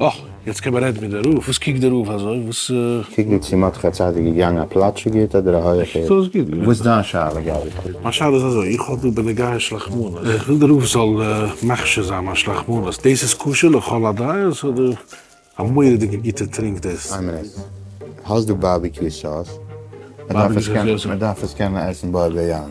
אה! יעצט קען מען רעדן מיט די רב. וואס קוקט די רב אזוי? וואס? קוק ווי צו מ'האט דיך א צייט איז געגאנגען א פלאטשיג היט אדער א הויעך היט. ס'איז גוט געווען. וואס דיין שאלה געבעט? מיין שאלה איז אזוי, איך האב דא בנוגעי שלחמנות, איך וויל די רב זאל מכשיר זיין מיין שלחמנות, דאס איז כשר לכל הדעות אדער א מורא'דיגע גוטע טרינק דאס? איין מינוט, האסט דא בארביקיו סאוס? מ'דארף עס קענען עסן בו ביום.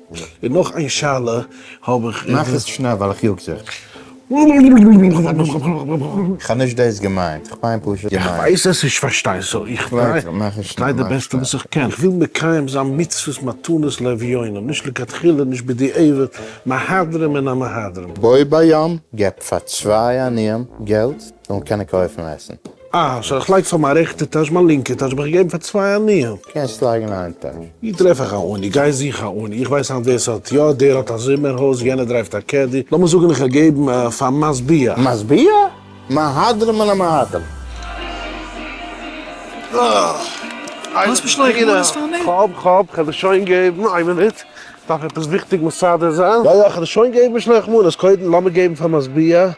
און נאך איין שאלה האב איך. מאך עס שנעל ווייל איך יאג זיך. כ'האב נישט דאס געמיינט, כ'מיין פשוט געמיינט. איך ווייס עס איך פארשטיי סאו איך טריי די בעסטע וואס איך קען, כ'וויל מקיים זיין מצוות מתנות לאביונים, נישט לכתחילה נישט בדיעבד, מהדרין מן המהדרין. בו ביום געבט פאר צוויי עניים געלט זאלן קענען קויפן עסן. אה, סאו איך לייג פאר מיין רעכטע טאש, מיין לינקע טאש האב איך געגעבן פאר צוויי עניים. קענסט לייגן איין טאש. ווי טרעף איך א עני? גיי זוך א עני. איך ווייס היינט ווער ס'האט יא, דער האט א זומער הויז, יענער דרייווט א קעדי, לאמיר זאגן איך האב געגעבן פאר משביע. משביע? מהדרין מן המהדרין. כאב, כאב, כ'העל דיר שוין געבן. איין מינוט, כ'דארף עפעס וויכטיג מסדר זיין. יא, יא, כ'העל דיר שוין געבן משלוח מנות. קודם לאמיר געבן פאר משביע.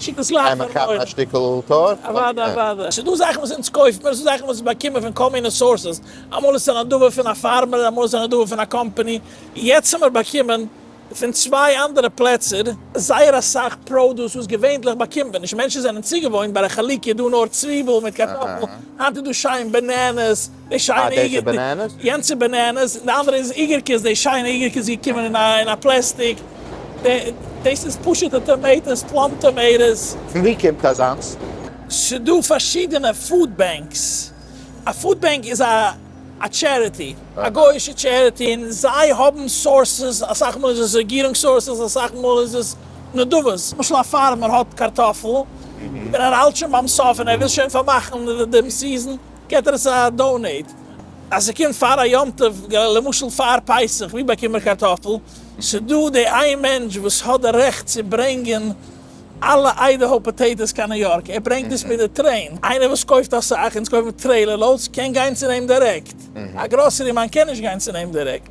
שיטות לייכט פאר מויל. קען מען כאפן א שטיקל טארט? אוודאי אוודאי. ס'דא זאכן וואס אונז קויף מיר, ס'דא זאכן וואס באקומען מיר פון כל מיני סאורסעס, אמאל איז עס א נדבה פון א פארמער, אמאל איז עס א נדבה פון א קאמפאני, יעצט האמיר באקומען פון צוויי אנדערע פלעצער זייער אסאך פראדוס וואס געווענדליך באקומט מען נישט, מענטשן זענען צוגעוואוינט ביי ר' חלקיה דא נאר צוויבל מיט קארטאפל, היינט איז דא שיין בענענעס, די שיינע איגערקעס, יענץ איז בענענעס, די אנדערע איז איגערקעס, די שיינע איגערקע איז געקומען אין א אין א פלעסטיק, דאס איז פשוטע טאמעיטאס, פלאם טאמעיטאס. פון ווי קומט אזאנס? ס'דא פארשידענע פוד בענקס, א פוד בענק איז א א טשעריטי, א גויאישע טשעריטי, און זיי האבן סאורסעס, אסאך מאל איז עס רעגירונג סאורסעס, אסאך מאל איז עס נדבות, למשל א פארמער האט קארטאפל, און ער האלט שוין ביים סוף און ער וויל שוין פארמאכן דעם סיזען, געט ער עס א דאנעיט, אז ס'קומט פאר א יום טוב, למשל פאר פסח, ווי באקומט מען קארטאפל, ס'דא די איין מענטש וואס האט די רעכט צו ברענגען אלע איידעהאו פאטעיטאס קיין ניו יארק, ער ברענגט עס מיט די טרעין, איינער וואס קויפט אסאך, אונז קויפן טרעילער לאודס, קען גיין צו אים דירעקט, א גראסערי מאן קען נישט גיין צו אים דירעקט.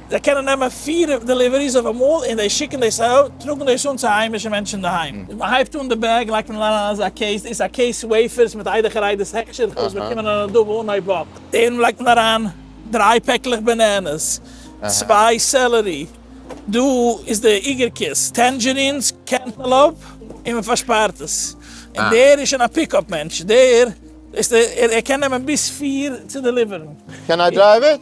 זיי קענען נעמען פֿיר דעליוועריס אויף אמאל און זיי שיקן דאס אאוט, טראגן דאס אן צו היימישע מענטשן אינדערהיים. ווען מ'הייבט אן די בעג לייגט מען אריין אזא קעיס, דאס איז א קעיס וועיפערס מיט איידעכער איידערס העכערשער זיך אויס באקומען אן ארדער וואו אן אייוועלט. דערין לייגט מען אריין דריי פעקלעך בענענעס, צוויי סעלערי, דא איז די עיקר קיסט, טענדזשערינס, קענטעלאופ, און מ'פארשפארט עס. און דער איז שוין א פיקאפ מענטש, דער ווייסט ער קען נעמען ביז פֿיר צו דעליווערן. קען איי דרייוו איט?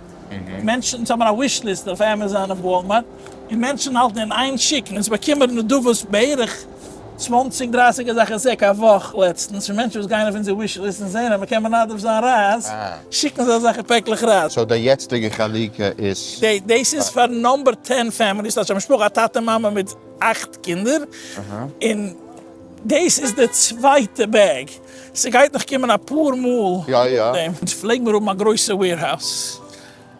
מענטשן האבן א וויש ליסט אויף עמעזאן און וואלמארט, און מענטשן האלטן אין איין שיקן, און ס'באקומען נדבות בערך צוואנציג דרייסיג אזעלכע זעק א וואך, לעצטנס פון מענטשן וואס גייען אויף אונזער וויש ליסט און זעהן אז מ'קען מנדב זיין רייז, שיקן זיי אזעלכע פעקלעך רייז. סאו די יעצטיגע חלוקה איז. דאס איז פאר נאמבער טען פעמיליס, ס'האט א משפחה א טאטע מאמע מיט אכט קינדער, און דאס איז די צווייטע בעג. ס'גייט נאך קומען אפאר מאל נאך דעם, אונז פלעג מיר האבן א גרויסע וועירהאוז,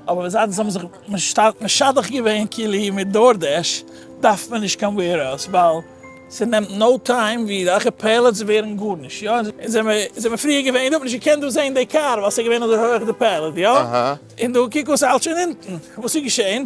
אבער זייט זיי האבן זיך שטארק משדך געווען קילי מיט דארדעש, דארף מען נישט קיין וועירהאוז, ווייל ס'נעמט נאו טיים ווי אזעלכע פעלעטס ווערן גארנישט, יא, אונז זעמיר פריער געווען, איך האב נישט געקענט דא זעהן די קאר ווייל ס'איז געווען אזוי הויעך די פעלעט, יא, און דא קוק וואס ס'האלט שוין אונטן, וואס איז געשעהן?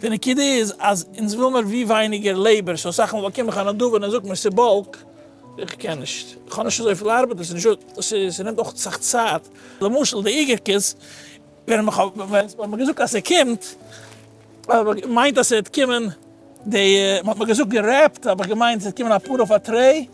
די נקודה איז אז אונז וויל מיר ווי ווייניגער לעיבער, סאו אסאך מאל באקום איך א נדבה און ער זאגט מיר ס'איז באלק, איך קען נישט, איך האב נישט אזויפיל ארבעט, ס'נעמט אויך אסאך צייט, למשל די איגערקעס, ווען מ'האט מיר געזאגט אז ס'קומט, האב איך געמיינט אז ס'וועט קומען די, מ'האט מיר געזאגט גערעפט, האב איך געמיינט ס'וועט קומען אפאר אויף א טרעי,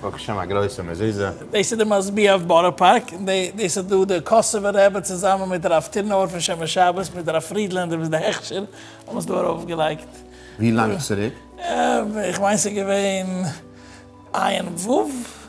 ברוך השם א גרויסע מזוזה. דאס איז די מזבח אויף בארא פארק, און דאס איז דא די קאסובער רבי צוזאמען מיט הרב טירנאווער פון שומר שבת מיט הרב פרידלענדער וואס די הכשר האבן עס דא ארויף געלייגט. ווי לאנג צוריק? איך מיין ס'איז געווען עיין ו.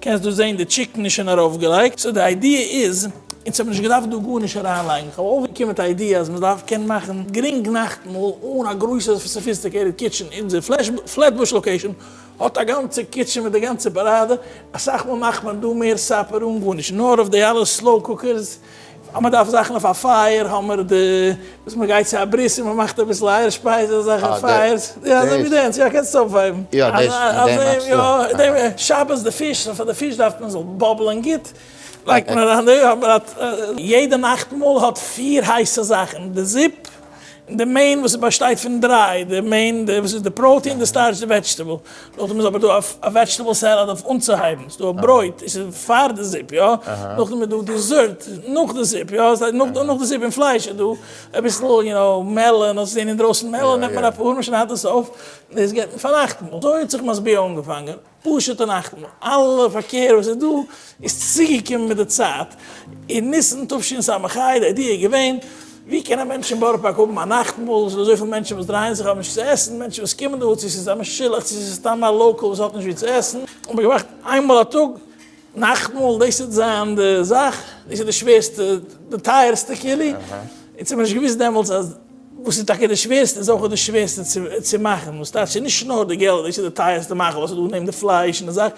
קענסט דא זעהן די טשיקן איז שוין ארויפגעלייגט, סאו די איידיע איז, אונז האב נישט געדארפט דא גארנישט אריינלייגן, איך האב אויפגעקומען מיט א איידיע אז מען דארף קענען מאכן גרינג נאכטמאל אן א גרויסע סאפיסטיקעיטעד קיטשען, אונזער פלעטבוש לאקעישאן האט א גאנצע קיטשען מיט די גאנצע פאראדע, אסאך מאל מאכט מען דא מער סאפער אן גארנישט, נאר אויף די אלע סלאו קוקערס. אז מען דארף זאכן אויף א פייער האמער די וואס מען גייט צו א ברית און מען מאכט אביסל אייער שפייז און אזעלכע פייערס יא אזוי ווי דענס יא קענסט עס אויפהייבן יא דעס דעם מיינטסטו יא דעם שבת די פיש פאר די פיש דארף מען זאל באבלען גוט לייגט מען אריין די אבער יעדע נאכטמאל האט פֿיר הייסע זאכן די זופ. די מעין וואס באשטייט פון דריי, די מעין די וואס איז די פראוטין, די סטארטש, די וועדזשטעבל, נאכדעם איז אבער דא א וועדזשטעבל סעלעד אויף אנצוהייבן, ס'איז דא א ברויט, עס איז פאר די זופ יא, נאכדעם איז דא דיזערט נאך די זופ יא, ס'הייסט נאך די זופ און פלייש איז דא אביסל יו נאו מעלאן, האסט געזען אינדרויסן מעלאן נעמט מען אפאר, מען שניידט עס אויף, דאס געבט מען פאר נאכטמאל, אזוי האט זיך משביע אנגעפאנגען. פשוט און אכטמאל, אלע פארקער וואס איז דא איז צוגעקומען מיט די צייט, אין ניסן תשס א, די איידיע איז געווען, ווי קען א מענטש אין בארא פארק האבן א נאכטמאל, עס איז דא אזויפיל מענטשן וואס דרייען זיך האבן נישט צו עסן, מענטשן וואס קומען דא צו עס איז א משולח צו עס איז סתם א לאקעל וואס האט נישט ווי צו עסן, האט מען געמאכט איינמאל א טאג נאכטמאל, דאס וועט זיין די זאך, דאס איז די שווערסטע, די טייערסטע כלי, אונז האב מיר נישט געוואוסט דעמאלטס אז וואס איז טאקע די שווערסטע איז אויך די שווערסטע צו מאכן, וואס טייטש נישט נאר די געלט, דאס איז די טייערסטע מאכל וואס איז דא נעבן די פלייש און די זאך,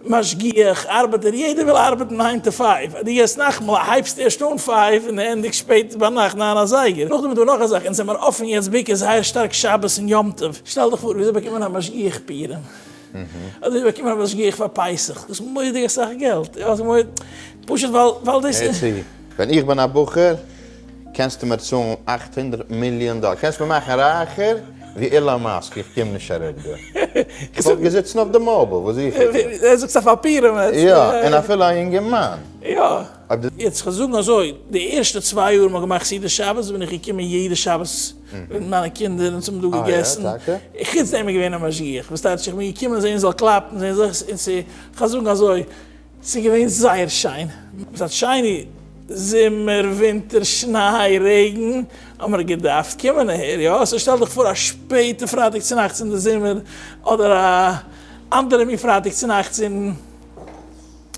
משגיח, ארבעטער, יעדער וויל ארבעטן ניין טו פייוו, אז דו גייסט נאכטמאל הייבסט ערשט אן פייוו און די ענדיגסט שפעט ביינאכט ניין אזייגער, נאכדעם איז דא נאך א זאך, אונז זעמיר אפן יעצט בעיקר זייער שטארק שבת און יום טוב, שטעל דיך פאר וויאזוי באקומען א משגיח פירעם. אדער איך באקום א משגיח פאר פסח, דאס איז מורא'דיג אסאך געלט, פשוט ווייל דאס איז. הער צו, ווען איך בין א בחור, קענסטו מיר צאלן אכט הונדרעט מיליאן דאלאר, קענסט מיר מאכן רייכער ווי אילאן מאסק, איך קום נישט אראפ דא. איך וואלט געזיצן אויף די מאביל, וואס זוך איך דא? דו זאגסט א פאפיר אמת? יא, און אפילו א יונגערמאן. יא. יעצט כ'וועל זאגן אזוי, די ערשטע צוויי יאר מ'האט געמאכט סעודת שבת בין איך געקומען יעדע שבת. מיט מיינע קינדער און אונז האבן דא געגעסן, חוץ דעם איז געווען א משגיח וואס טייטש איך בין געקומען זען זאל קלאפן זען זאל איך און כ'וועל זאגן אזוי ס'איז געווען זייער שיין, עס האט שיין זומער ווינטער שניי רעגן האמער געדארפט קומען אהער יא, סאו שטעל דיך פאר א שפעטע פרייטאג צונאכטס אין די זומער אדער א אנדערע מין פרייטאג צונאכטס אין.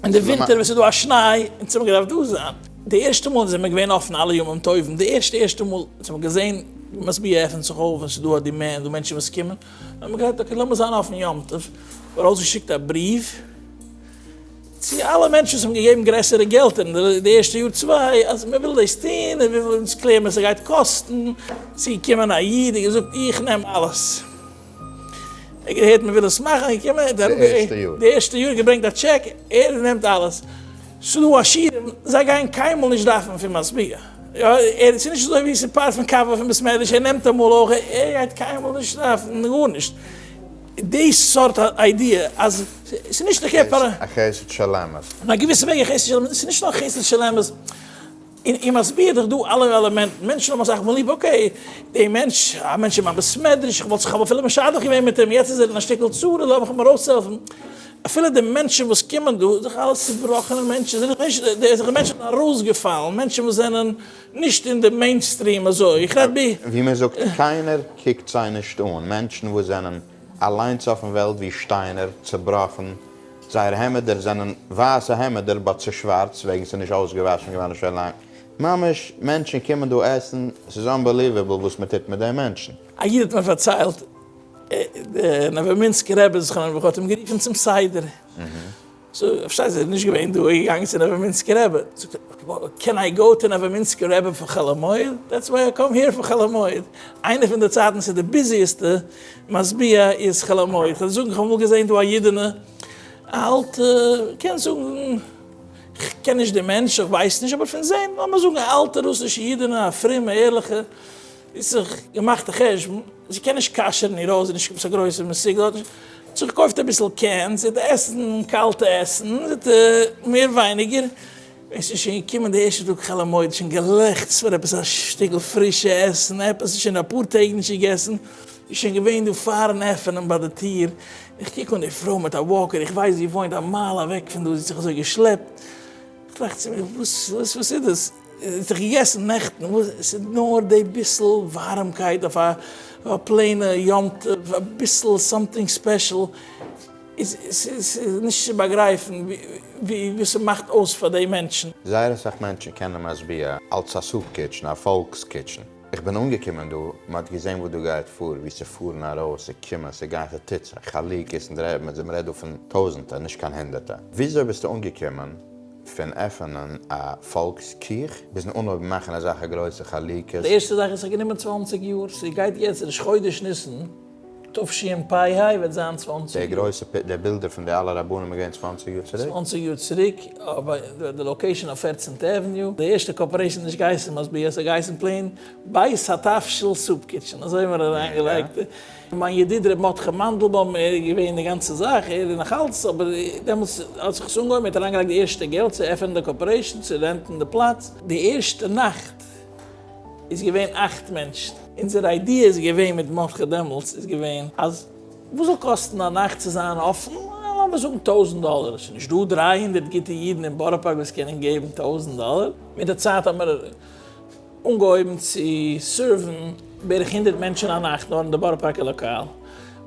אין די ווינטער ווען ס'איז דא א שניי אונז האבן געדארפט דא זיין די ערשטע מאל זעמער געווען אפן אלע ימים טובים די ערשטע ערשטע מאל וואס האבן געזען משביע עפענט זיך אויף און ס'איז דא אט די מער דא מענטשן וואס קומען האבן מיר געהאט אקעי לאמיר זיין אפן יום טוב ארויסגעשיקט א בריוו צו אלע מענטשן וואס האבן געגעבן גרעסערע געלטער אין די ערשטע יאר צוויי אז מען וויל דאס טון און וויפיל אונז קלער מען ס'גייט קאסטן צו קומען א איד און געזאגט איך נעם אלעס. איך געהערט מען וויל עס מאכן איך קום אהן די ערשטע יאר, די ערשטע יאר געברענגט א טשעק ער נעמט אלעס, ס'דא עשירים זיי גייען קיינמאל נישט דארפן פון משביע, ער ס'נישט אזוי ווי ס'פארט פון קאווע פון בית מדרש ער נעמט אמאל אויך ער גייט קיינמאל נישט דארפן גארנישט, די סארט איידיע אז ס'נישט א חסד של אמת. אין א געוויסע וועג א חסד של אמת, ס'נישט נאר חסד של אמת. און איר מסביר דיך דא אלע עלעמענטן, מענטשן האבן אסאך מאל ליב, אקעי, דער מענטש, א מענטש אין מיין בית מדרש, איך וואלט זיך אפילו משדך געווען מיט אים, יעצט איז ער אין א שטיקל צרה, לאמיך אים ארויסהעלפן, אפילו די מענטשן וואס קומען דא, זענען אלעס צובראכענע מענטשן, זענען נישט, די זענען מענטשן ארויסגעפאלן, מענטשן וואס זענען נישט אין די מעינסטריעם אזוי, איך רעד ב. ווי מען זאגט, קיינער קוקט זיי נישט אן, מענטשן וואס זענען. אליינס אויפן וועלט ווי שטיינער, צובראכן, זייער העמעדער זענען ווייסע העמעדער בה צו שווארץ וועגן ס'איז נישט אויסגעוואשן געווארן שוין לאנג, ממש מענטשן קומען דא עסן, ס'איז אנבעליוועבל וואס מען טוט מיט די מענטשן. א איד האט מיר פארציילט, דער נאוואמינסקער רבי זכרונו לברכה האט אים גערופן צום סדר, זאג, פארשטייט זיך נישט געווען דא, איז געגאנגען צו נאוועמינסקער רבי, זאגט ער, קען איי גאו טו נאוועמינסקער רבי פאר חול המועד, דעטס וויי איי קאם היער פאר חול המועד, איינע פון די צייטן ס'איז די ביזיעסטע משביע איז חול המועד, כ'וועל זאגן, כ'האב אמאל געזען דא א אידענע, א אלטע, קען זאגן, כ'קען נישט די מענטש, כ'ווייס נישט, אבער פון זען, לאמיר זאגן א אלטע רוסישע אידענע, א פרומע, ערליכע, האט זיך געמאכט א חשבון זי קען נישט כשר'ן איר הויז, זי איז נישט עפעס א גרויסע מסוגלת, האט זיך געקויפט אביסל קענס, זי האט עסן קאלטע עסן, זי האט מער ווייניגער, ווען ס'איז שוין געקומען די ערשטע טאג חול המועד, שוין געלעכצט פאר עפעס א שטיקל פרישע עסן, עפעס זי האט שוין אפאר טעג נישט געגעסן, זי איז שוין געווען דא פארן עפענען ביי די טיר, איך קוק אן די פרוי מיט א וואקער, איך ווייס זי וואוינט א מייל אוועק פון דא, זי האט זיך אזוי געשלעפט, איך טראכט צו מיר וואס איז דאס? זיך געגעסן נעכטן וואס עס איז נאר די ביסל ווארעמקייט אויף א פלעינע יום טוב אביסל סאמטינג ספעשל איז ס'איז נישט צו באגרייפן ווי ס'מאכט אויס פאר די מענטשן. זייער אסאך מענטשן קענען משביע אלס א סופ קיטשן, א פאלקס קיטשן. איך בין אנגעקומען דא, מען האט געזען וואס דא גייט פאר, ווי ס'פארן ארויס, ס'קומען, ס'גיין ס'טוט זיך, חלוקות און דרעמעס, און מען רעדט דא פון טויזענטער, נישט קיין הונדערטער. וויאזוי ביסטו אנגעקומען? פון עפענען א פאלקס קיך ביזן אנהויבן מאכן אזאלכע גרויסע חלוקות. די ערשטע זאך וואס האט גענומען צוואַנציק יאר, ס'איז גייט יעצט ראש חודש ניסן תשפ ה וועט זיין צוואַנציק יאר. די גרויסע די בילדער פון די אלע רבנים איז געווען צוואַנציק יאר צוריק? צוואַנציק יאר צוריק אויף די לאקעישאן אויף פערצענטע עוועניו, די ערשטע קארפארעישאן איז נישט געהייסן מסביר, ס'האט געהייסן פלעין בית התבשיל סופ קיטשען, אזוי האט מען אריינגעלייגט. מיין ידיד ר' מרדכי מאנדלבוים, ער איז געווען די גאנצע זאך, ער איז נאך אלץ, אבער דעמאלטס האט זיך עס אנגעהויבן, ער האט אריינגעלייגט די ערשטע געלט צו עפענען די קארפארעישאן, צו רענטן די פלאץ, די ערשטע נאכט איז געווען אכט מענטשן. אונזער איידיע איז געווען מיט מרדכי דעמאלטס איז געווען אז וואס זאל קאסטן א נאכט צו זיין אפן, לאמיר זאגן טויזנט דאלער, עס איז נישט דא דרײַ הונדערט גוטע אידן אין בארא פארק וואס קענען געבן טויזנט דאלער, מיט די צייט האט מען אנגעהויבן צו סערוון בערך הונדערט מענטשן א נאכט נאר אין די בארא פארקער לאקאל,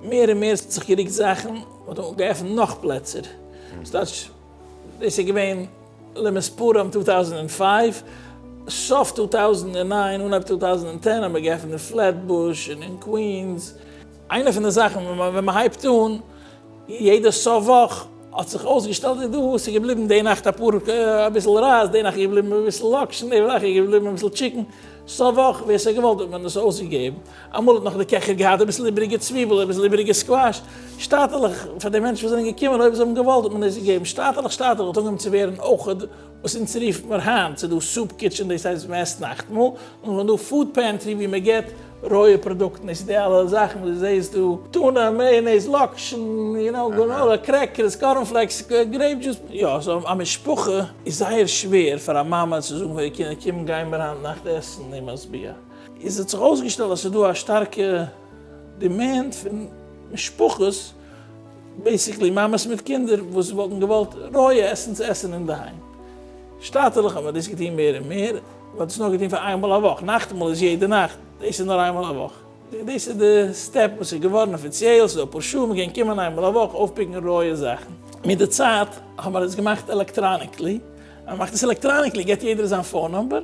מער און מער ס'האט זיך גערוקט זאכן, מ'האט געעפנט נאך פלעצער, ס'טייטש דאס איז געווען למספרם טו טאוזענד און פייוו, סוף טו טאוזענד און ניין אנהייב טו טאוזענד און טען האט מען געעפנט אין פלעטבוש און אין קווינס. איינע פון די זאכן ווען מען הייבט אן יעדע סוף וואך האט זיך אויסגעשטעלט ווי דא איז געבליבן די נאכט אפאר אביסל רייז די נאכט איז געבליבן אביסל לאקשן די וואך איז געבליבן אביסל טשיקן סוף וואך ווער ס'האט געוואלט האט מען עס אויסגעגעבן אמאל האט נאך די קעכער געהאט אביסל איבעריגע צוויבל אביסל איבעריגע סקוואש שטאטעלעך פאר די מענטשן וואס זענען געקומען אויב זיי האבן געוואלט האט מען עס געגעבן שטאטעלעך שטאטעלעך האט אנגעהויבן צו ווערן אויך וואס אונז רופן מיר היינט, ס'איז דא סופ קיטשען דאס הייסט וועסט נאכטמאל, און ס'איז דא פוד פענטרי ווי מען געט רויע פראדוקטן, דאס איז די אלע זאכן וואס דו זעסט דא, טונא, מעיאנעיז, לאקשן, יו נאו, גראנאלא, קרעקערס, קארן פלעקס, גרעיפ דזשוס, יא, סאו א משפחה איז זייער שווער פאר א מאמע צו זאגן פאר איר קינדער קום גיי מיר היינט נאכט עסן אין משביע, איז האט זיך אויסגעשטעלט אז ס'איז דא א שטארקע דימענד פון משפחות, בעיסיקלי מאמעס מיט קינדער וואס וואלטן געוואלט רויע עסן צו עסן אינדערהיים. שטאטעלעך האבן דאס געטון מער און מער, מ'האט דאס נאר געטון פאר איינמאל א וואך, נאכטמאל איז יעדע נאכט, דאס איז נאר איינמאל א וואך. דאס איז די סטעפ וואס איז געווארן אפיציעל, ס'דא אפאר שולן וואו מ'קען קומען איינמאל א וואך אויפפיקן רויע זאכן. מיט די צייט האט מען עס געמאכט עלעקטראניקלי, אז מ'מאכט עס עלעקטראניקלי געט יעדער זיין פאון נומבער,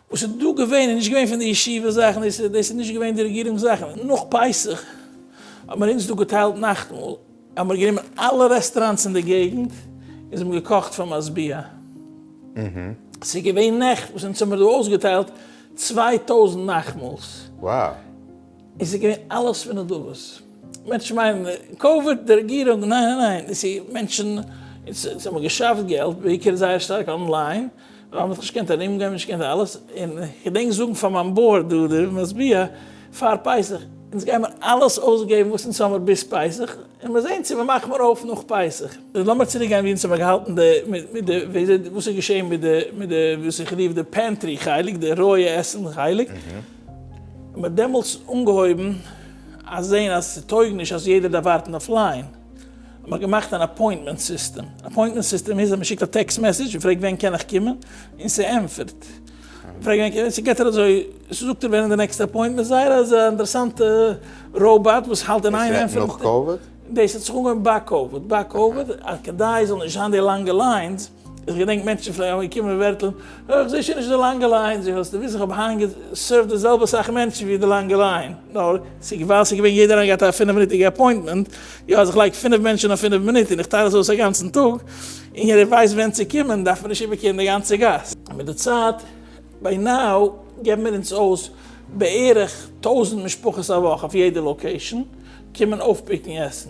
וואס איז דא געווען איז נישט געווען פון די ישיבה זאכן, דאס איז נישט געווען די רעגירונג זאכן, נאך פסח האט מען אונז דא געטיילט נאכטמאל, האבן מיר גענומען אלע רעסטראנטס אין די געגנט און זיי האבן געקאכט פאר משביע, ס'איז געווען נעכט וואס אונז האבן מיר דא אויסגעטיילט צוויי טויזנט נאכטמאל'ס, און ס'איז געווען אלעס פון נדבות, מענטשן מיינען קאוויד די רעגירונג, ניין ניין ניין, דאס איז מענטשן, אונז האבן געשאפט געלט בעיקר זייער שטארק אנליין, ווייל מ'האט נישט געקענט ארום גיין, נישט געקענט אלעס, און כ'געדענק זאגן פאר מיין בארד דא די משביע פאר פסח, אונז גיימער אלעס אויסגעבן וואס אונז האמער ביז פסח, און מיר זעהן צו מיר מאכן מיר אויף נאך פסח. לאמיר צוריק גיין ווי אונז האמער געהאלטן די, מיט די, וואס איז געשעהן מיט די, מיט די, וואס איך רוף די פענטרי חלק, די רויע עסן חלק, מ'האט דעמאלטס אנגעהויבן אז זעהן אז ס'טויג נישט אז יעדער דארף ווארטן אויף ליין, מען האט געמאכט אן אפוינטמענט סיסטעם, אפוינטמענט סיסטעם איז אז מען שיקט א טעקסט מעסעדזש און פרעגט ווען קען איך קומען, און ס'ענטפערט, מען פרעגט ווען קען איך, ס'געט איר אזוי, ס'זאגט איר ווען איז די נעקסטע אפוינטמענט, זייער אזא אינטערעסאנטע ראובאט וואס האלט אין איין ענטפערן, דאס וועט נאך קאוויד? דאס האט זיך אנגעהויבן ביי קאוויד, ביי קאוויד אז כדי ס'זאל נישט זיין די לאנגע ליינס, איך געדענק מענטשן פלעגן אמאל קומען און ווערטלען, אה, איך זע שוין נישט די לאנגע ליין, זיי וואלסטו וויסן איך האב היינט געסערווט די זעלבע סאך מענטשן ווי די לאנגע ליין, נאר ס'איז ווייל ס'איז געווען יעדער איינער געהאט א פינף מינוטיגע אפוינטמענט, יא אז איך לייג פינף מענטשן אויף פינף מינוט און איך טיילעס אויס א גאנצן טאג און יעדער ווייסט ווען צו קומען דארף מען נישט איבערקערן די גאנצע גאס. מיט די צייט, ביי נאו, געבן מיר אונז אויס בערך טויזנט משפחות א וואך אויף יעדע לאקעישן קומען אויפפיקן עסן.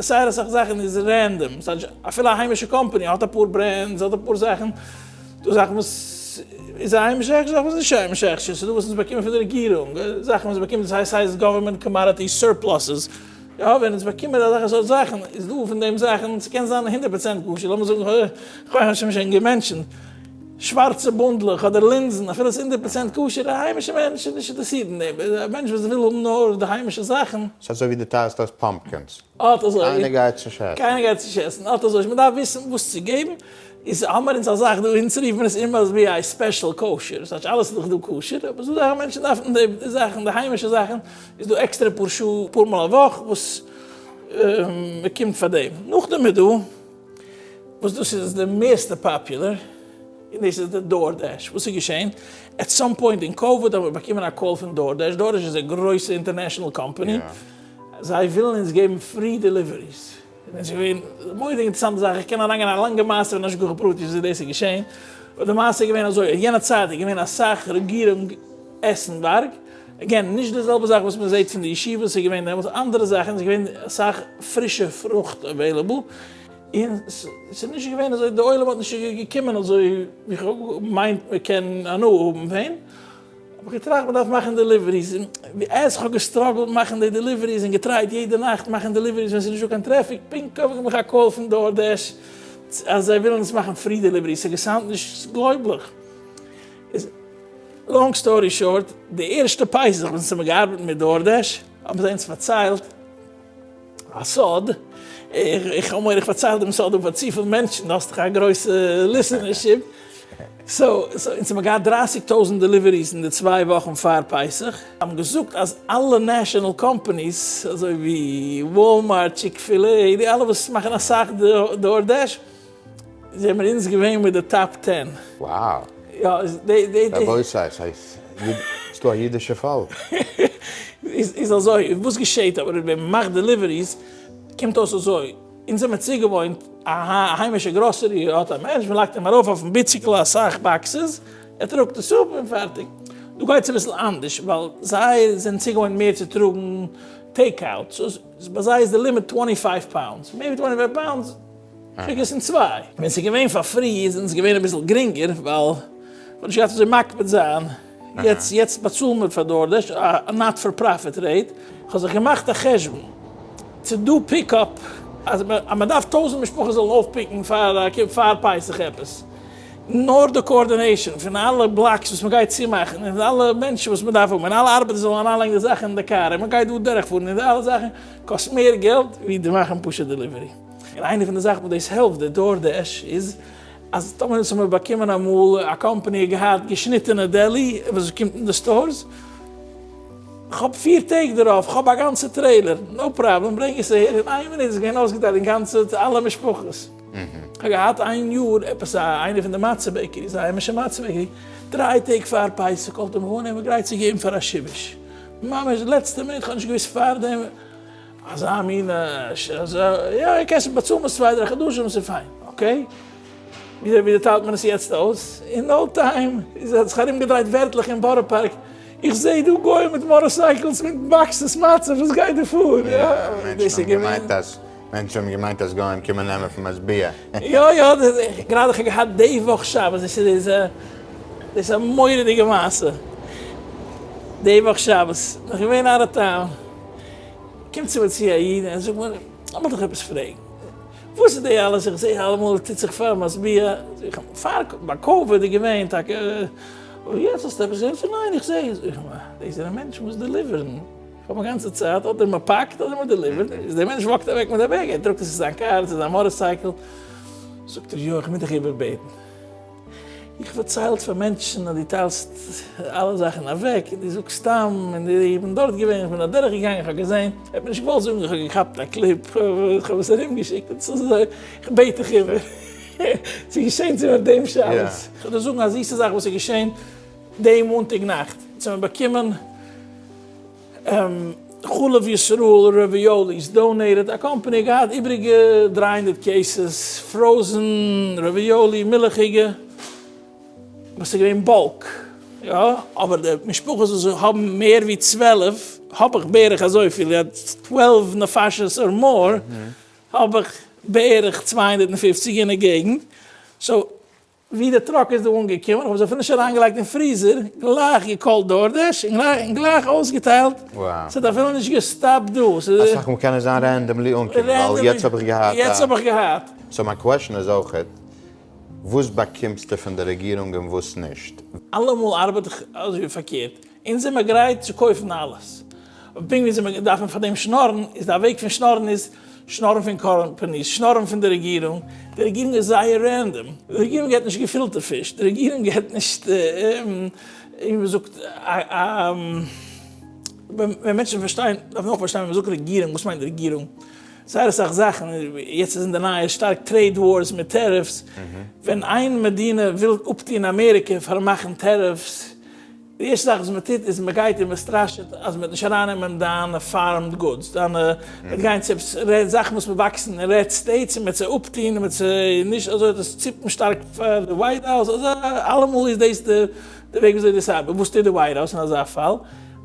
זייער אסאך זאכן איז רענדאם, סאטש אפילו א היימישע קאמפאני האט אפאר ברענדס, האט אפאר זאכן, דא זאכן וואס איז א היימישע הכשר, זאכן וואס איז נישט א היימישע הכשר, ס'איז דא וואס אונז באקומען פון די רעגירונג, זאכן וואס באקומען דאס הייסט סאיז גאווערמענט קאמאדעטי סורפלאסעס, יא ווען אונז באקומען אזעלכע סארט זאכן איז דא פון דעם זאכן, ס'קען זיין הונדערט פראצענט כשר, לאמיר זאגן כח האשם שוין געמענטשענט. שווארצע בונדלעך אדער לינזן, אפילו עס איז הונדערט פראצענט כשר, א היימישע מענטש איז נישט אינטערעסירט אין דעם, א מענטש וואס וויל האבן נאר די היימישע זאכן. ס'איז אזוי ווי דו טייערסט אויס פאמפקינס, אט אזוי, קיינער גייט עס נישט עסן. קיינער גייט עס נישט עסן, אט אזוי, מ'דארף וויסן וואס צו געבן, איז האמער אונז א זאך דא, אונז רופט מען עס אום עס ווי א ספעשל כשר, ס'טייטש אלעס איז דאך דא כשר, אבער ס'דא זאכן מענטשן דארפן די זאכן, די היימישע זאכן, איז דא עקסטערע פאר שעה, אפאר מאל א וואך וואס מ'קומט פאר דעם, נאכדעם איז דא. וואס דאס איז די מערסטע פאפולער, און דאס איז די דאור דעש, וואס איז געשען? עט סאם פוינט אין קאוויד האבן מיר באקומען א קאל פון דאור דעש, דאור דעש איז א גרויסע אינטערנעשענעל קאמפאני, זיי ווילן אונז געבן פרי דעליוועריס, און עס איז געווען מורא די אינטערסאנטע זאך, איך קען אריין גיין אין א לאנגע מעשה פון השגחה פרטית וויאזוי דאס איז געשען, אבער די מעשה איז געווען אזוי, אין יענע צייט איז געווען אסאך רעגירונג עסנווארג, עגעין, נישט די זעלבע זאך וואס מען זעהט פון די ישיבות, ס'איז געווען דעמאלטס אנדערע זאכן, ס'איז געווען אסאך פרישע פרוכט עוועילעבל, און ס'איז נישט געווען אזוי, די עולם האט נישט געקומען אזוי ווי כ'מיין מ'קען הנאה האבן פון, האב איך געטראכט מ'דארף מאכן דעליוועריס, עז כ'האב געסטראגלט מאכן די דעליוועריס און געטרייט יעדע נאכט מאכן דעליוועריס ווען ס'איז נישטא קיין טרעפיק, פונקט קויף איך מיך א קאל פון דאור דעש אז זיי ווילן עס מאכן פרי דעליווערי, ס'איז געסאונדט נישט גלויבליך. לאנג סטארי שארט, די ערשטע פסח ווען ס'מיר געארבעט מיט דארדעש האבן זיי אונז פארציילט א סוד, איך האב מורא איך פארצייל דעם סוד פאר צופיל מענטשן, דו האסט דאך א גרויסע ליסענערשיפ, סאו אונז האבן געהאט דרייסיג טויזענט דעליוועריס אין די צוויי וואכן פאר פסח, זיי האבן געזאגט אז אלע נעשאנעל קאמפאניס אזוי ווי וואלמארט, טשיק-פיל-עי, די אלע וואס מאכן אסאך דארדעש, זעמער אונז געווען מיט די טאפ טען. Wow! יא, די. רבותי, ס'דא א אידישע פאלק. איז אזוי, וואס געשעהט אבער ווען מ'מאכט דעליוועריס, קומט אויס אזוי, אונז האמיר צוגעוואוינט א היימישע גראסערי, האט א מענטש, מ'לייגט אים ארויף אויפן ביציקל אסאך באקסעס, ער טראגט עס אפ און פארטיג. דא גייט עס אביסל אנדערש, ווייל זיי זענען צוגעוואוינט מער צו טראגן טעיק אוט, סאו ביי זיי איז די לימיט טווענטי פייוו פאונדס, מער ווי טווענטי פייוו פאונדס. געגעסן צוויי, ווען ס'איז געווען פאר פרי איז אונז געווען אביסל גרינגער ווייל מ'האט נישט געהאט אזוי מקפיד זיין, יעצט יעצט באצאלן מיר פאר דארדעש א נאט פאר פראפיט רעיט, כ'האב זיך געמאכט א חשבון ס'איז דא פיק אפ אז מ'דארף טויזנט משפחות זאלן אויפפיקן פאר פאר פסח עפעס, נאר די קאארדינעישאן פון אלע בלאקס וואס מ'גייט צומאכן און פון אלע מענטשן וואס מ'דארף האבן און אלע ארבעטער זאלן אריינלייגן די זאכן אין די קאר און מ'גייט דא דורכפארן און די אלע זאכן קאסט מער געלט ווי די מאכן פשוט דעליווערי. און איינע פון די זאכן וואס דאס העלפט די דאור דעש איז אז טאמער אונז האמיר באקומען אמאל א קאמפאני האט געהאט געשניטענע דעלי וואס עס קומט אין די סטארס כ'האב פיר טעג דערויף כ'האב א גאנצע טרעילער נאו פראבלעם ברענג עס אהער אין איין מינוט איז געווען אויסגעטיילט אין גאנצע צו אלע משפחות כ'האב געהאט איין יאר עפעס א איינע פון די מצה בעקעריס א היימישע מצה בעקערי דריי טעג פאר פסח קאלט ער מיך אן ער איז מיר גרייט צו געבן פאר א שיבוש ממש לעצטע מינוט כ'האב נישט געוויסט פארדעם. אזא מין ש ס, יא קענסט באצאלן עס צוויי דריי חדשים ס'איז פיין, אקעי? וויאזוי טיילט מען עס יעצט אויס? אין נאו טיים איז האט זיך ארום געדרייט ווערטלעך אין בארא פארק, איך זע דא גוים מיט מארעסייקלס מיט באקסעס מצה, וואס גייט דא פאר? יא, דאס איז געווען. מענטשן האבן געמיינט אז גוים קומען נעמען פון משביע. יא יא, גראדע איך האב געהאט די וואך שבת, דאס איז דאס א מורא'דיגע מעשה, די וואך שבת, נאך געווען אוט אוו טאון, קומט צו מיר צו א איד און ער זאגט מיר, לאמיך דיך עפעס פרעגן, וואס איז די אלעס, איך זע אלעמאל טוט זיך פאר משביע, זאג איך, פאר ביי קאווע איז געווען טאקע, אבער יעצט האסטו עפעס אינפא, ניין איך זע, זאג איך, דאס זענען מענטשן וואס דעליווערן, איך האב א גאנצע צייט אדער מען פאקט אדער מען דעליווערט, איז דער מענטש וואקט אוועק מיט א בעג, ער טראגט עס צו זיין קאר, צו זיין מאטארסייקל, זאגט ער, יא איך מוז דיך איבערבעטן. איך פארציילט פאר מענטשן אז דו טיילסט אלע זאכן אוועק און דו זאגסט סתם און איך בין דארט געווען איך בין אדורך געגאנגען איך האב געזען איך האב נישט געוואלט זאגן איך האב געכאפט א קליפ איך האב עס ארום געשיקט און צו זיי איך בעט דיך איבער ס'איז געשען צו מיר דעם שבת איך וועל דיר זאגן א זיסע זאך וואס איז געשען דעם מאנטאג נאכט אונז האבן באקומען. חלב ישראל רעוויאליס דאנעיטעד א קאמפאני געהאט איבריגע דרײַ הונדערט קעיסעס פראזען רעוויאלי מילכיגע וואס איז געווען באלק יא אבער די משפחות וואס האבן מער ווי צוועלף האב איך בערך אזויפיל יעצט צוועלף נפשות אר מאר האב איך בערך צוויי הונדערט פֿופֿציק אין די געגענט סאו ווי די טראק איז דא אנגעקומען האבן זיי פריש אריינגעלייגט אין פריזער, גלייך געקאלט דארדעש און גלייך אויסגעטיילט, ס'האט אפילו נישט געסטאפט דא, ס'איז. אסאך מאל קען עס זיין רענדאמלי אנקומען ווייל יעצט האב איך געהאט א. יעצט האב איך געהאט. סאו מיין קוועשאן איז אויכעט, וואס באקומסטו פון די רעגירונג און וואס נישט? אלעמאל ארבעט איך אזוי ווי פארקערט. אונז זעמער גרייט צו קויפן אלעס. אבער פונקט ווי אונז זעמער דארפן פאר דעם שנארן, איז די וועג פון שנארן איז, שנארן פון קאמפאניס, שנארן פון די רעגירונג. די רעגירונג איז זייער רענדאם. די רעגירונג געט נישט געפילטע פיש. די רעגירונג געט נישט, ווי מ'זאגט, ווען מענטשן פארשטייען, דארף מען אויך פארשטיין ווען מ'זאגט רעגירונג, וואס מיינט רעגירונג? זייער אסאך זאכן, יעצט איז אין די נייעס שטארק טרעיד ווארס מיט טעריפס. ווען איין מדינה וויל אפטון אמעריקע פארן מאכן טעריפס, די ערשטע זאך וואס מען טוט איז מען גייט און מען סטראשעט אז מען וועט נישט ארייננעמען דיינע פארמד גודס, דיינע וועט גיין צו עפעס רעד זאכן וואס מען וואקסן אין רעד סטעיטס און מען וועט זיי אפטוהן און מען וועט זיי נישט אזוי וועט עס ציפן שטארק פאר די ווייט האוז אזא אלעמאל איז דאס די די וועג וויאזוי דאס ארבעט, וואס טוט די ווייט האוז אין אזא פאל?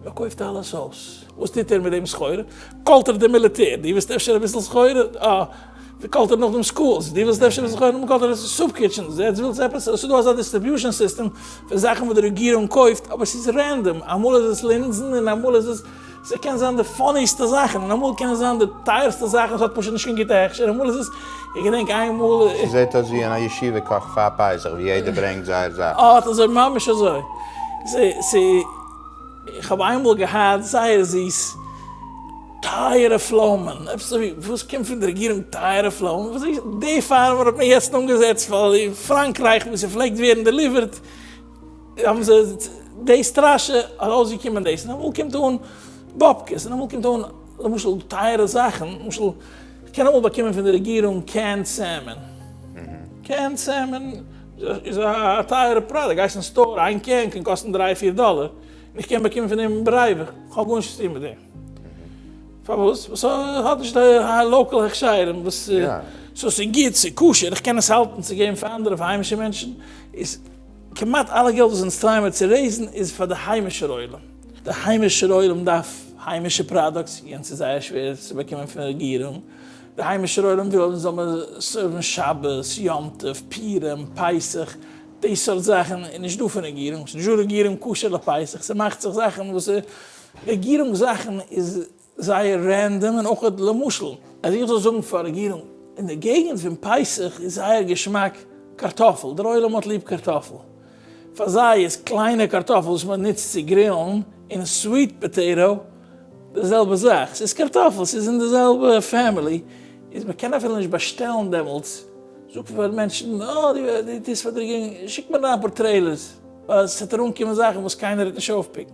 מען קויפט אלעס אויס, וואס טוט ער מיט דעם סחורה? קאלט ער די מיליטער, דו ווילסט אפשר אביסל סחורה? אה. די קאלטער נאך דעם סקולס, דו ווילסט אפשר זיך אויפהערן מיט קאלטער אויף סופ קיטשענס, יעצט ווילסטו עפעס, עס איז דא אזא דיסטריביושען סיסטעם פון זאכן וואס די רעגירונג קויפט, אבער עס איז רענדאם, אמאל איז עס לינזן און אמאל איז עס, עס קען זיין די פאניסטע זאכן, און אמאל קען עס זיין די טייערסטע זאכן און עס האט פשוט נישט קיין גוטע הכשר, אמאל איז עס, איך געדענק איינמאל. ס'זעט אויס ווי אין א ישיבה קאך פאר פסח ווי יעדער ברענגט זייער זאך. אט אזוי, ממש אזוי. ס'איז, איך האב איינמאל געהאט זייער זיס. טייערע פלאמען, עפעס אזוי ווי וואס קומט פון די רעגירונג טייערע פלאמען, וואס איז די פארמער האט מען יעצט אנגעזעצט ווייל אין פראנקרייך וואו ס'פלעגט ווערן דעליווערט האבן זיי די סטראשע ארויסגעקומען דאס און אמאל קומט אן באבקעס און אמאל קומט אן למשל טייערע זאכן למשל מ'קען אמאל באקומען פון די רעגירונג קענד סעמען, קענד סעמען איז א טייערע פראדוקט, גייסט אין סטאר איין קען קען קאסטן דריי פיר דאלער און איך קען באקומען פון דעם ברייווע, כ'האב גארנישט צוטון מיט דעם. פארוואס? ווייל ס'האט נישט די לאקעל הכשרים וואס סאו ס'איז גוט, ס'איז כשר, איך קען עס האלטן צו געבן פאר אנדערע פאר היימישע מענטשן, איז כמעט אלע געלט וואס אונז טרייען מיר צו רעיזן איז פאר די היימישער עולם, די היימישער עולם דארף היימישע פראדאקטס, יענץ איז זייער שווער צו באקומען פון רעגירונג, די היימישער עולם וויל אונז זאל מיר סערוון שבת, יום טוב, פורים, פסח, די סארט זאכן איז נישט דא פון רעגירונג, ס'נישט דא רעגירונג כשר לפסח, ס'מאכט זיך זאכן וואס איז. רעגירונג זאכן איז זייער רענדאם און אויך למשל אז איך זאל זאגן פאר רעגירונג אין די געגנט פון פסח איז זייער געשמאק קארטאפל דער עולם האט ליב קארטאפל פאר זיי איז קליינע קארטאפל וואס מען נוצט צו גרילן און סוויט פאטעיטא די זעלבע זאך ס'איז קארטאפל ס'איז אין די זעלבע פעמילי איז מען קען אפילו נישט באשטעלן דעמאלטס זאגט מען פאר מענטשן אה דו טוסט פאר די רעגירונג שיק מיר אריין אפאר טרעילערס ווייל ס'וועט ארונקומען זאכן וואס קיינער וועט נישט אויפפיקן.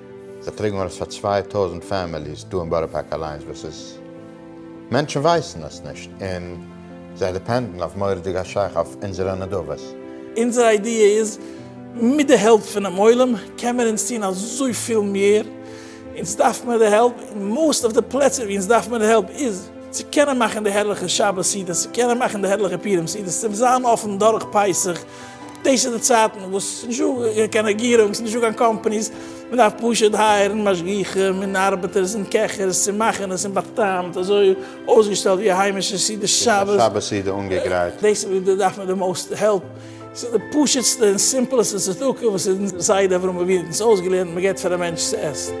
זיי פרעגן אויס פאר צוויי טויזנט פעמיליס דא אין בארא פארק אליינס וואס איז, מענטשן ווייסן עס נישט און זיי דיפענדן אויף מורא'דיג א שייך אויף אונזערע נדבות. אונזער איידיע איז, מיט די העלפ פונעם עולם קען מען אונז טון אזויפיל מער, אונז דארף מער די העלפ, און מאסט אוו די פלעצער ווי אונז דארף מער די העלפ איז, צו קענען מאכן די הערליכע שבת סעודות, צו קענען מאכן די הערליכע פורים סעודות, צו זיין אפן דורך פסח, דאס איז די צייטן וואס ס'איז נישט דא קיין קיין רעגירונג, ס'איז נישט דא קיין קאמפאניס, מען דארף פשוט הייערן משגיחים און ארבעטערס און קעכערס צו מאכן עס און בא'טעמ'ט אזוי אויסגעשטעלט ווי א היימישע סעודת שבת. שבת סעודה אנגעגרייט. דאס איז וואו דא דארף מען די מאוסט העלפ. ס'איז די פשוט'סטע און סימפלעסטע צדקה וואס אונזער זיידע אברהם אבינו האט אונז אויסגעלערנט, מען געבט פאר א מענטש צו עסן.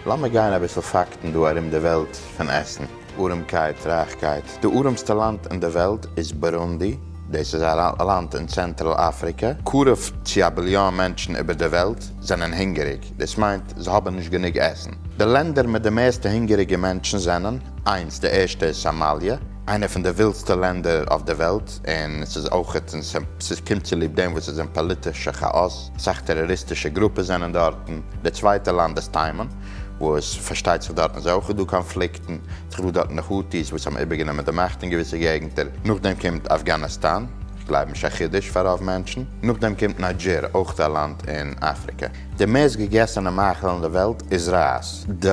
לאמיר גיין אביסל פאקטן דא ארום די וועלט פון עסן. אָרעמקייט, רײַכקייט. די אָרעמסטע לאַנד אין דער וועלט איז בורונדי. דאָס איז אַ לאַנד אין צענטראַל-אַפֿריקע. קרוב צו אַ ביליאָן מענטשן איבער דער וועלט זענען הונגעריק. דאָס מיינט, זיי האָבן נישט גענוג עסן. די לענדער מיט די מערסטע הונגעריגע מענטשן זענען, איינס, די ערשטע איז סאָמאַליע, איינער פֿון די ווילדסטע לענדער אויף דער וועלט, און עס איז אויך, און ס'איז קומט צוליב דעם וואָס עס איז אין פּאָליטישע כאַאָס, אַ סך טעראָריסטישע גרופּעס זענען דאָרטן. דער צווייטער לאַנד איז תימן. וואו עס פארשטייט זיך דארטן איז אויך דא קאנפליקטן, ס'איז דא דארטן די הוטי'ס וואס האבן איבערגענומען די מאכט אין געוויסע געגנטער, נאכדעם קומט אפגאניסטאן, כ'גלייב נישט א חידוש פאר רוב מענטשן, נאכדעם קומט ניידזשיר, אויך א לאנד אין אפריקע. די מערסט געגעסענע מאכל אין די וועלט איז רייז. די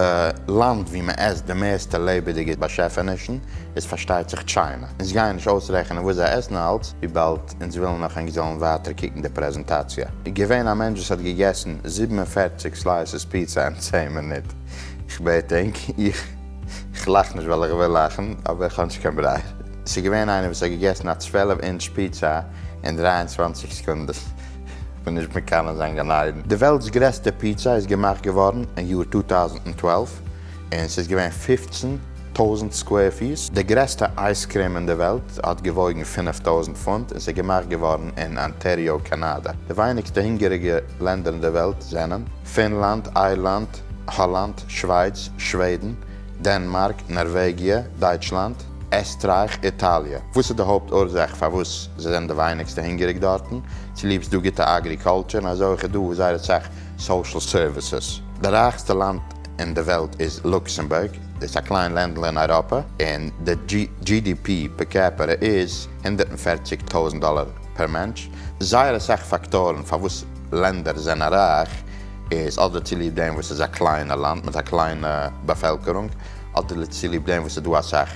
לאנד וואו מען עסט די מערסטע לעבעדיגע באשעפענישן איז פארשטייט זיך טשיינע, אונז גייען נישט אויסרעכענען וואס זיי עסן אלץ וויבאלד אונז ווילן נאך ענק זאלן ווייטער קוקן די פרעזענטאציע. איז געווען א מענטש וואס האט געגעסן זיבן און פֿערציק סלייסעס פיצא אין צען מינוט? איך בעט ענק, איך איך לאך נישט ווייל איך וויל לאכן, אבער איך האב נישט קיין ברייער. עס איז געווען איינער וואס האט געגעסן א צוועלף אינטש פיצא אין דרײַ און צוואַנציק סעקונדעס. איך בין נישט מקנא זיין גן עדן. די וועלט'ס גרעסטע פיצא איז געמאכט געווארן אין יאר צוויי טויזנט צוועלף, און ס'איז געווען פֿופֿצן. טויזנט סקווער פיס. די גרעסטע אייז קרעם אין די וועלט האט געוואויגן פֿינף טויזנט פונט און ס'איז געמאכט געווארן אין אנטעריאו קאנאדע. די ווייניגסטע הונגעריגע לענדער אין די וועלט זענען, פינלאנד, איירלאנד, האלאנד, שווייץ, שוועדן, דענמארק, נארוועגיע, דייטשלאנד, עסטרייך, איטאליע. וואס איז די הויפט אורזאך פארוואס זיי זענען די ווייניגסטע הונגעריג דארטן? צוליב ס'דא גוטע אגריקולטור און אזוי אויך איז דא זייער אסאך סאושעל סערוויסעס. די רייכסטע לאנד אין די וועלט איז לוקסעמבורג. איז א קליין לענדל אין אייראפע און די GDP פער קעפערע איז הונדערט און פֿערציק טויזנט דאלער פער מענטש. זייער אסאך פאקטארן פארוואס לענדער זענען רייך איז אדער צוליב דעם וואס ס'איז א קליינע לאנד מיט א קליינע באפעלקערונג אדער צוליב דעם וואס ס'איז דא אסאך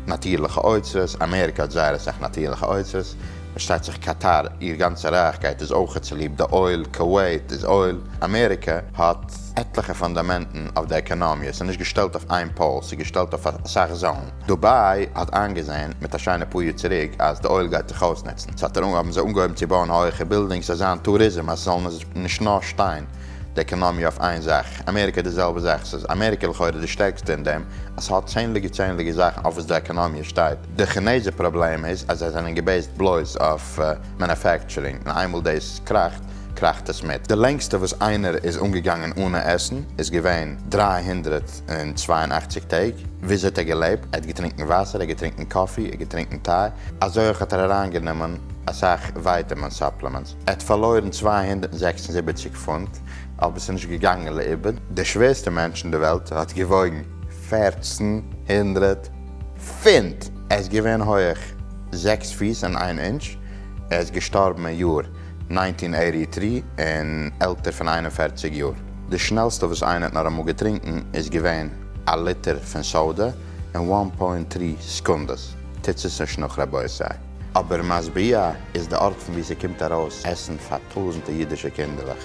נאטירליכע אוצרות, אמעריקע האט זייער אסאך נאטירליכע אוצרות, פארשטייט זיך קאטאר איר גאנצע רייכקייט איז אויכעט צוליב די אויל, קאוועיט איז אויל, אמעריקע האט. עטליכע פאנדאמענטן אויף די עקאנאמיע, ס'איז נישט געשטעלט אויף איין פאול, ס'איז געשטעלט אויף אסאך זאלן. דובאי האט איינגעזען מיט א שיינע פאר יאר צוריק אז די אויל גייט זיך אויסנוצן, ס'האט ער האבן זיי אנגעהויבן צו בויען הויעכע בילדינגס אז זיין טוריזם אז ס'זאל נישט נאר שטיין די עקאנאמיע אויף איין זאך. אמעריקע די זעלבע זאך, ס'איז אמעריקע לכאורה די שטערקסטע אין דעם אז ס'האט צענדליגע צענדליגע זאכן אויף וואס די עקאנאמיע שטייט. די כינעזער פראבלעם איז אז זיי זענען געבעיסט בלויז אויף מענופעקטשורינג און איינמאל דאס קראכט, קראכט עס מיט. די לענגסטע וואס איינער איז אנגעגאנגען אנע עסן איז געווען דרײַ הונדערט צוויי און אַכציק טעג. וויאזוי האט ער געלעבט? ער האט געטרינקן וואסער, ער האט געטרינקן קאפי, ער האט געטרינקן טיי, אזוי אויך האט ער אריינגענומען אסאך ווייטעמין סאפלעמענטס. ער האט פארלוירן צוויי הונדערט זעקס און זיבעציק פונט, אבער ס'איז נישט געגאנגען לאיבוד. דער שווערסטער מענטש אין די וועלט האט געוואויגן פֿערצן הונדערט פונט! ער איז געווען הויעך זעקס פיס און איין אינטש. ער איז געשטארבן אין יאר. נײַנצן הונדערט אַכט און דרײַ און עלטער פון איין און פֿערציק יאר. די שנעלסטע וואס איינער האט נאר אמאל געטרינקן איז געווען א ליטער פון סאודע אין איין פוינט דרײַ סעקונדעס, טוטס עס נישט נאך רבותי. אבער משביע איז די ארט פון ווי ס'קומט ארויס עסן פאר טויזענטע אידישע קינדערלעך.